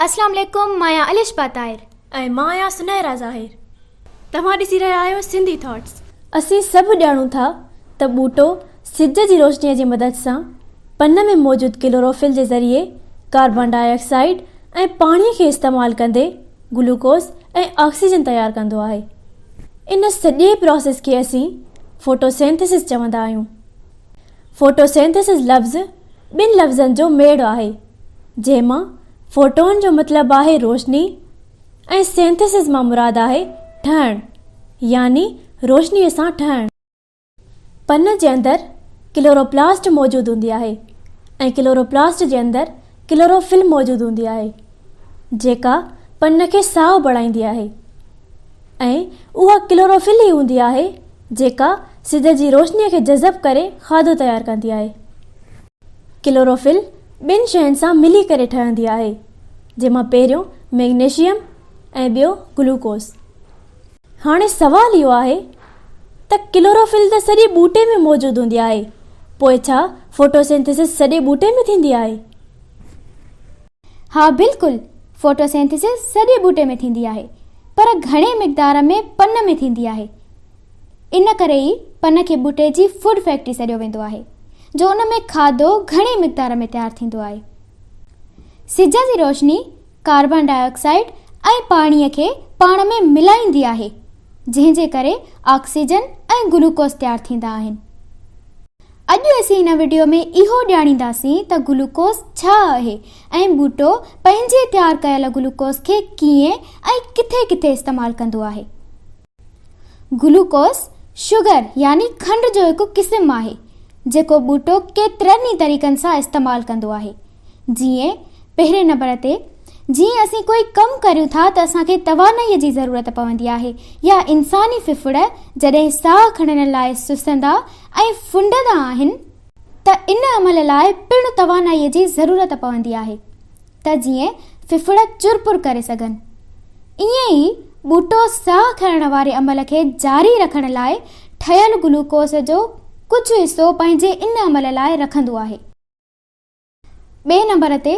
اسلام عليڪم مان آهيان الشبا طاهر. ۽ مان آهيان سنيرا ظاهر. توهان ڏسي رهيا آهيو سنڌي ٿاٽس. اسين سڀ ڄاڻون ٿا ته ٻوٽو سج جي روشنيء جي مدد سان پن ۾ موجود ڪلوروفل جي ذريعي ڪاربان ڊاء آڪسائيڊ ۽ پاڻي کي استعمال ڪندي گلوڪوز ۽ آڪسيجن تيار ڪندو آهي. ان سڄي پراسيس کي اسين فوٽوسينٿيسس چوندا آهيون. فوٽوسينٿيسز لفظ ٻن لفظن جو ميڙ آهي، جنهن مان فوٽون جو مطلب آهي روشني ۽ سينٿيسز مان مراد آهي ٺهڻ يعني روشنيء سان ٺهڻ. پن جي اندر ڪلوروپلاسٽ موجود هوندي آهي ۽ ڪلوروپلاسٽ جي اندر ڪلوروفل موجود هوندي آهي جيڪا پن کي سائو بڻائيندي آهي ۽ اها ڪلوروفل ئي هوندي آهي جيڪا سج جي روشني کي جذب ڪري کاڌو تيار ڪندي آهي ڪلوروفل ٻن شين سان ملي ڪري ٺهندي آهي جنهن مان پهريون ميگنيشيم ۽ ٻيو گلوڪوز هاڻي سوال اهو آهي ته ڪلوروفل ته سڄي ٻوٽي ۾ موجود هوندي آهي، پوء ڇا فوٽوسينٿيسس سڄي ٻوٽي ۾ ٿيندي آهي؟ ها بلڪل، فوٽوسينٿيسس سڄي ٻوٽي ۾ ٿيندي آهي، پر گهڻي مقدار ۾ پن ۾ ٿيندي آهي. ان ڪري ئي پن کي ٻوٽي جي فوڊ فيڪٽري سڏيو ويندو آهي، جو ان ۾ کاڌو گهڻي مقدار ۾ تيار ٿيندو آهي. سج جي روشني ڪاربان ڊاء آڪسائيڊ ۽ پاڻي کي پاڻ ۾ ملائيندي آهي، جنهن جي ڪري آڪسيجن ۽ گلوڪوز تيار ٿيندا آهن. اڄ اسين هن وڊيو ۾ اهو ڄاڻينداسين ته گلوڪوز ڇا اهي ۽ ٻوٽو پنهنجي تيار ڪيل گلوڪوز کي ڪيئن ۽ ڪٿي ڪٿي استعمال ڪندو آهي. گلوڪوز شگر يعني کنڊ جو هڪ قسم آهي جيڪو ٻوٽو ڪيترن ئي طريقن سان استعمال ڪندو آهي جيئن پهرين نمبر تي جيئن اسين ڪوئي ڪم ڪريون ٿا ته اسان کي توانائي جي ضرورت پوندي آهي يا انساني ڦڦڙ جڏهن ساهه کڻڻ لاء سستندا ۽ ڦنڊندا آهن ته ان عمل لاء پڻ توانائي جي ضرورت پوندي آهي ته جيئن ڦڦڙ چر پور ڪري سگهن. ائين ئي ٻوٽو ساهه کڻڻ واري عمل کي جاري رکڻ لاء ٺهيل گلوڪوز جو ڪجهه حصو پنهنجي ان عمل لاء رکندو آهي. ٻئي نمبر تي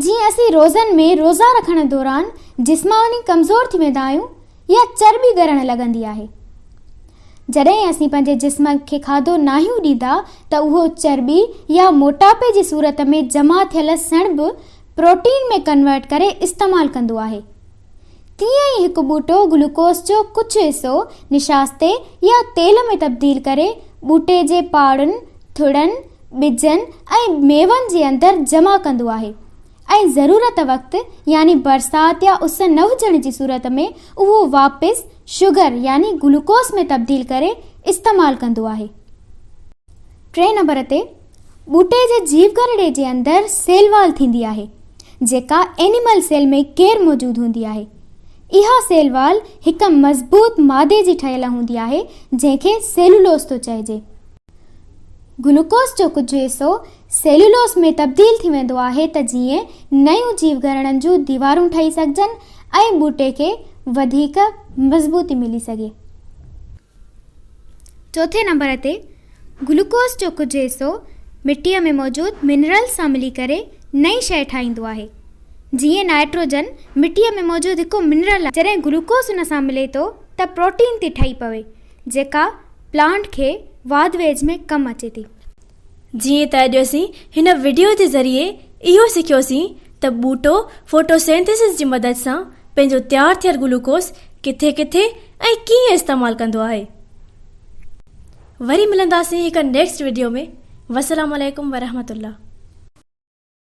جيئن اسين روزن ۾ روزا رکڻ دوران جسماني ڪمزور ٿي ويندا آهيون يا چرٻي ڳرڻ لڳندي آهي. جڏهن اسين پنهنجي جسم کي کاڌو ناهيون ڏيندا ته اهو چرٻي يا موٽاپي جي صورت ۾ جمع ٿيل سڻڀ پروٽين ۾ ڪنورٽ ڪري استعمال ڪندو آهي. تيئن ئي هڪ ٻوٽو گلوڪوز جو ڪجهه حصو نشاستي يا تيل ۾ تبديل ڪري ٻوٽي جي پاڙن، ٿڙن، ٻجن ۽ ميون جي اندر جمع ڪندو آهي. ۽ ضرورت وقت يعني برسات يا اس نه هجڻ جي صورت ۾ اهو واپس شگر يعني گلوڪوس ۾ تبديل ڪري استعمال ڪندو آهي. ٽئين نمبر تي ٻوٽي جي جيوگرڙي جي اندر سيل وال ٿيندي آهي جيڪا اينيمل سيل ۾ غير موجود هوندي آهي. اها سيل وال هڪ مضبوط مادي جي ٺهيل هوندي آهي جنهن کي سيلولوز ٿو چئجي. گلوڪوز جو ڪجهه حصو سيلولوز ۾ تبديل ٿي ويندو آهي ته جيئن نيون جيوگهرڙن جون ديوارون ٺهي سگهجن ۽ ٻوٽي کي وڌيڪ مضبوطي ملي سگهي. چوٿين نمبر تي گلوڪوز جو ڪجهه حصو مٽيء ۾ موجود منرلز سان ملي ڪري نئين شيء ٺاهيندو آهي. جيئن نائٽروجن مٽيء ۾ موجود هڪ منرل آهي. جڏهن گلوڪوز ان سان ملي ٿو ته پروٽين ٿي ٺهي پوي جيڪا پلانٽ کي واڌ ويجهه ۾ ڪم اچي ٿي. جيئن ته اڄ اسين هن وڊيو جي ذريعي اهو سکيوسين ته ٻوٽو فوٽوسينٿيسس جي مدد سان پنهنجو تيار ٿيل گلوڪوز ڪٿي ڪٿي ۽ ڪيئن استعمال ڪندو آهي وري ملنداسين هڪ نيڪسٽ وڊيو ۾ وسلام عليڪم ورحمة الله.